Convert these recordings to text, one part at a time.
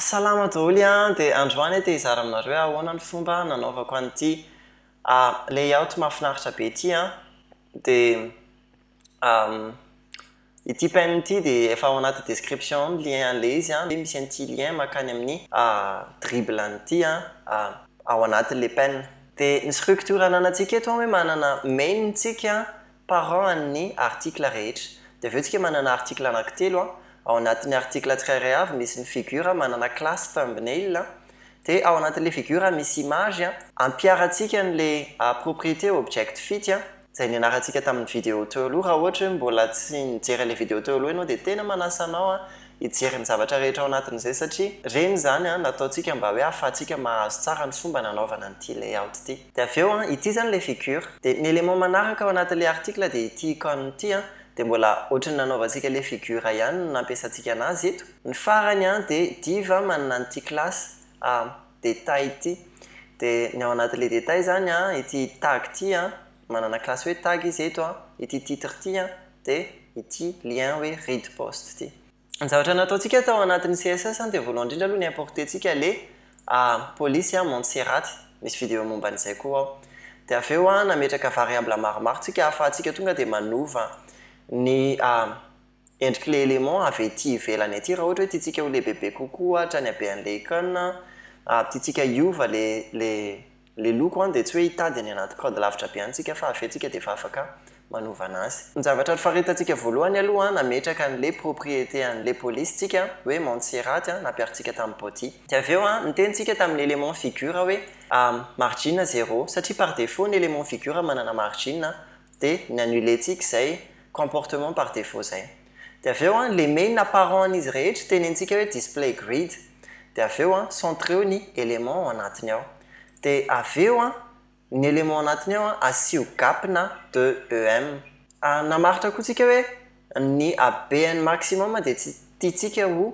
Salama daholo an! Dia androany aho te hizara aminareo hoe ahoana ny fomba nanaovako an'ity layout mahafinaritra be ity an! Dia ity pin ity dia efa ao anaty description ao ny lien an'ilay izy an! Dia misy an'ity lien mankany amin'ny drible an'ity an! Ao anatin'ilay pin. Dia ny structure ananantsika eto an hoe manana main tsika parents an'ny article rehetra. Dia avy eo tsika manana article anankitelo an, ao anatin'ny article tsirairay avy misy ny figure manana classe thumbnail an, dia ao anatin'ilay figure misy image an, ampiharantsika an'ilay propriété object fit an, izay nianarantsika tamin'ny video teo aloha, raha ohatra hoe mbola tsy nijery an'ilay video teo aloha ianao dia tena manasa anao an hijery ny zavatra rehetra ao anatin'izay satria ireny izany an nataontsika mba hoe ahafahantsika mahazo tsara ny fomba nanaovana an'ity layout ity. Dia avy eo an, ity izany ilay figure. Dia ny élément manaraka ao anatin'ilay article dia ity icône ity an, dia mbola ohatry ny nanaovantsika ilay figure ihany no nampiasantsika anazy eto. Ny farany an, dia div an, manana an'ity classe a détail ity. Dia ny ao anatin'ilay détail izany an, ity tag ity an, manana classe hoe tag izy eto an, ity titre ity an, dia ity lien hoe read post ity. Ny zavatra nataontsika tao anatin'ny CSS dia voalohany indrindra aloha ni-importer-tsika le polisy a Montserrat, misy video momba an'izay koa ao. Dia avy eo nametraka variables maromaro tsika ahafahantsika tonga dia manova ny endrik'ilay élément avy ety ivelany ety raha ohatra hoe tiantsika ho lehibebe kokoa ohatra ny habean'ilay icône, tiantsika hiova le le Le loko an dia tsy hoe hitady any anaty code lavitra be any tsika fa avy eo tsika dia efa afaka manova anazy. Ny zavatra nifaritantsika voalohany aloha an nametraka anle propriété anle police tsika an hoe Montseraty an nampiarintsika tamin'ny body. Dia avy eo an niteny tsika tamin'ny élément figure hoe margine zéro satria par défaut ny élément figure manana margine an dia ni annuler tsika izay comportement par défaut izay. Dia avy eo an, le main apparent an'izy rehetra teny antsika hoe display grid. Dia avy eo an, centreo ny éléments ao anatiny ao. Dia avy eo an, ny éléments anatiny ao an, asio gap na de EM. Namaritra koa tsika hoe ny habeny maximum dia tsy tiantsika ho.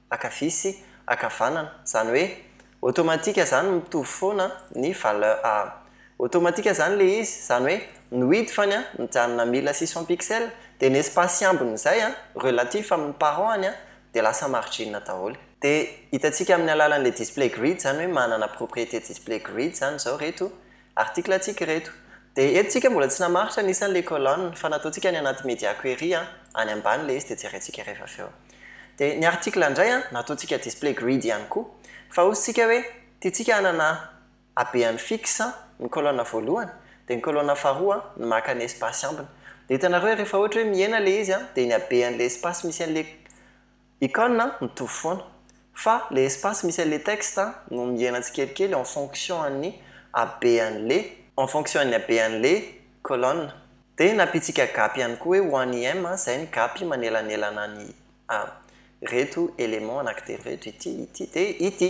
ankavia sy ankavanana, zany hoe automatique zany mitovy foana ny valeur a automatique zany le izy, zany hoe ny width any a mijanona à mille six cents pixels de ny espace iambony izay a relatif amin'ny parent any a de lasa margine daholo. De hitantsika amin'ny alalan'ilay display grid zany hoe manana propriété display grid zany izao ireto Article tsika ireto. Dia eto tsika mbola tsy namaritra ny isan'ilay colonne fa nataontsika any anaty media query an, any ambany ilay izy dia jerentsika rehefa avy eo. Dia ny article indray an, nataontsika display grid ihany koa. Fa hozy tsika hoe, tiantsika hanana habeany fixe an, ny colonne voalohany, dia ny colonne faharoa an, ny maka ny espace ambiny. Dia hitanareo hoe rehefa ohatra hoe mihena ilay izy an, dia ny habean'ilay espace misy an'ilay. Icône an, mitovy foana. Fa le espace misy an'le texte an, no mihena tsikelikely en fonction an'ny habean'le. En fonction an'ny habean'le colonne. Dia nampiantsika gap ihany koa hoe ho an'i M an, izay ny gap manelanelana an'i A. Ireto éléments anankitelo ireto, ity, ity, dia ity.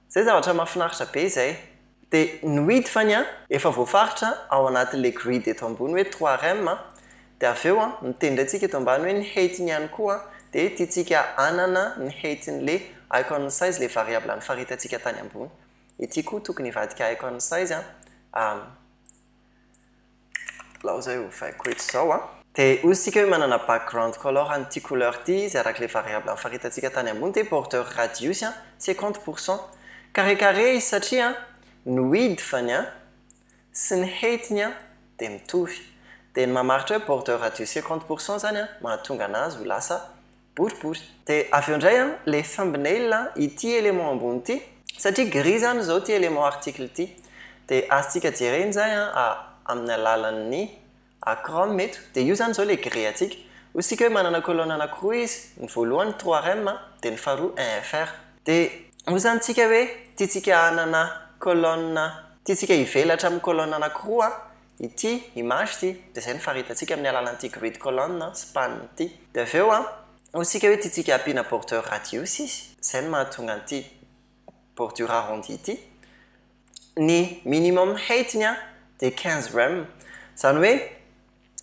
Zay zavatra mafinaritra be zay. De nohidy fa ny an. Efa voafaritra ao anatin le grid eto ambony hoe trois rem an, de avy eo an miteny ndray tsika eto ambany hoe ny height ny ihany koa an, de tiantsika anana ny height ny le icon size le variable nifaritantsika tany ambony. Ity koa tokony hivadika icon size an, Alao izay ovaiko eto izao an. Dia hoy isika hoe manana background color an'ity couleur ity izy araka ilay variable nifaritantsika tany ambony dia border radius an, cinquante pour cent. Carré carré izy satria an, ny width-ny an, sy ny height-ny an, dia mitovy. Dia ny mamaritra hoe border radius cinquante pour cent izany an, mahatonga anazy ho lasa. boribory. De avy eo ndray an le thumbnail an ity élément ambony ity satria gris zany izao ity élément article ity de azontsika jerena izay an amin'ny alalan'ny chrome eto de io zany izao le gris antsika ozy tsika hoe manana colonne anakiroa izy ny voalohany trois rem an de ny faharoa un fr de ozy zany tsika hoe tiantsika hanana colonne tiantsika hivelatra amin'ny colonne anakiroa an Ity image ity dia izay no faritantsika amin'ny alalan'ity grid colonne sy panne ity. Dia avy eo hoy isika hoe tiantsika hampiana bordure radius izy, izay no mahatonga an'ity bordure arrondi ity. Ny minimum height-ny dia quinze rem. Izany hoe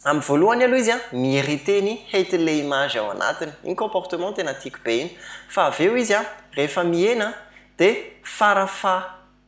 amin'ny voalohany aloha izy mi-hériter ny height-n'ilay image ao anatiny. Iny comportement tena tiako be iny. Fa avy eo izy rehefa mihena dia fara faha.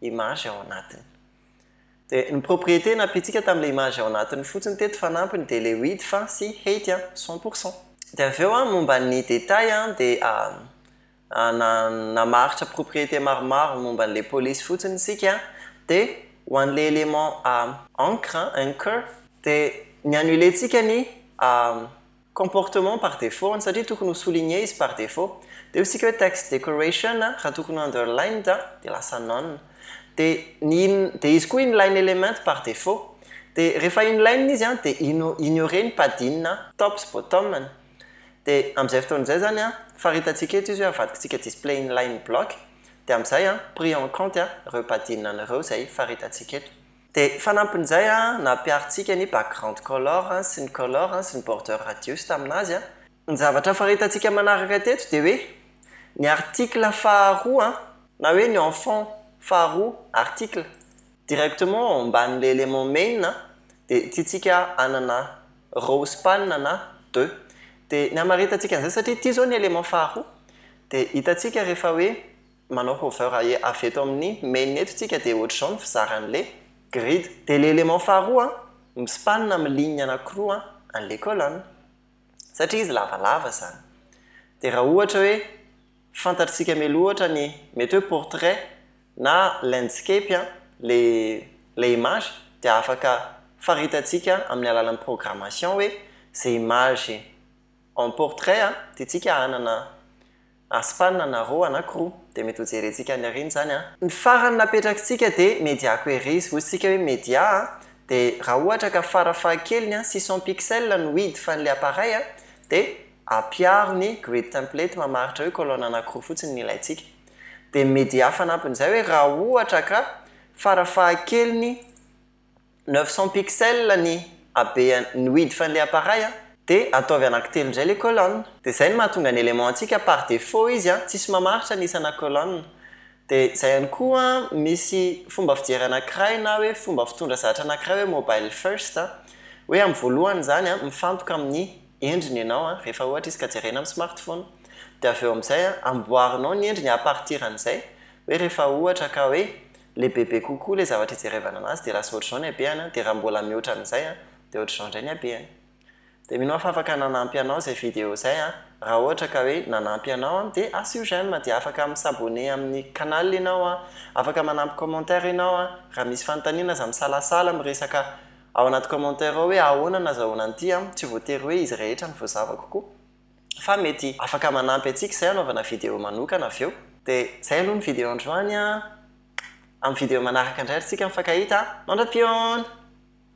image ao anatiny. Dia ny propriété nampiantsika tamin'ilay image ao anatiny fotsiny teto fanampiny dia ilay width sy height cent pour cent. Dia avy eo momba ny détails dia namaritra propriété maromaro momba an'ilay police fotsiny isika dia ho an'ilay élément ancre, anchor, dia ny annuler-tsika ny comportement par défaut-ny satria tokony ho souligner izy par défaut dia ho isika hoe text decoration raha tokony ho underlined dia lasa none dia ny in dia izy koa inline element par défaut dia rehefa inline izy dia ino ignorer ny padding top sy bottom-ny dia amin'izay fotoana izay izany faritantsika eto izy hoe avadikintsika displayInlineBlock dia amin'izay pris en compte ireo padding-ny ireo izay faritantsika eto. Dia fanampin'izay an, nampiharintsika ny background color an, sy ny color an, sy ny border radius tamin'azy an. Ny zavatra faritantsika manaraka teto dia hoe ny article faharoa an, na hoe ny enfant faharoa, article, directement ao ambanin'ilay element main an, dia tiantsika hanana row span na de. Dia ny hamaritantsika an'izay, satria ity izao ny element faharoa, dia hitantsika rehefa hoe. manao hover avy eto amin'ny main eto tsika dia ohatr'izao ny fizaran'le grid. Dia le élément faharoa an, mi-span amin'ny ligne anakiroa an, an'le colonne. Satria izy lavalava izany. Dia raha ohatra hoe fantatr'tsika mialoha ohatra ny mety hoe portrait na landscape an, le le image dia afaka faritantsika amin'ny alalan'ny programmation hoe ze image en portrait an, dia tsika hanana Aspana na roa na k'roa dia mety ho jerentsika any aoriana izany an! Ny farany napetrakitsika dia mediako ery izy, hoy tsika hoe media an! dia raha ohatra ka fara fahakeliny an! six cents pixels no width an'ilay appareil an! dia ampiaro ny grid template mamaritra hoe colonne anakiroa fotsiny ny ilaintsika! dia ny media fanampin'izay hoe raha ohatra ka fara fahakeliny Neuf cents pixels ny habean ny width an le appareil a! De ataovy anaky telo ndray le colonne! De zay no mahatonga ny élément antsika par défaut izy a! Tsisy mamaritra ny isana colonne! De zay ihany koa misy fomba fijery anakiray na hoe fomba fitondra zatra anakiray hoe mobile first a! Hoe am voalohany zany a mifantoka am ny endriny enao a! Rehefa ohatra izy ka jerena am smartphone! De avy eo amzay a amboarinao ny endriny à partir anzay! Hoe rehefa ohatra ka hoe le bebe kokoa le zavatra ijerevana anazy de lasa ohatr'izao ny habehany an, de raha mbola mihoatra an'izay an, de ohatr'izao indray ny habehany. De mino aho fa afaka nanampy anao izay vidéo zay an, raha ohatra ka hoe nanampy anao an de asio j'aime de afaka mi s'abonner amin'ny canal ianao an, afaka manampy commentaire ianao an, raha misy fanontaniana aza misalasala miresaka ao anaty commentaire ao hoe ahoana no nazahoana an'ity an, tsy voatery hoe izy rehetra no voazavako koa. fa mety afaka manampy antsika izay hanaovana video manokana avy eo. Dia izay aloha ny video androany an! Amin'ny video manaraka indray ry tsika mifankahita an! Mandrapion!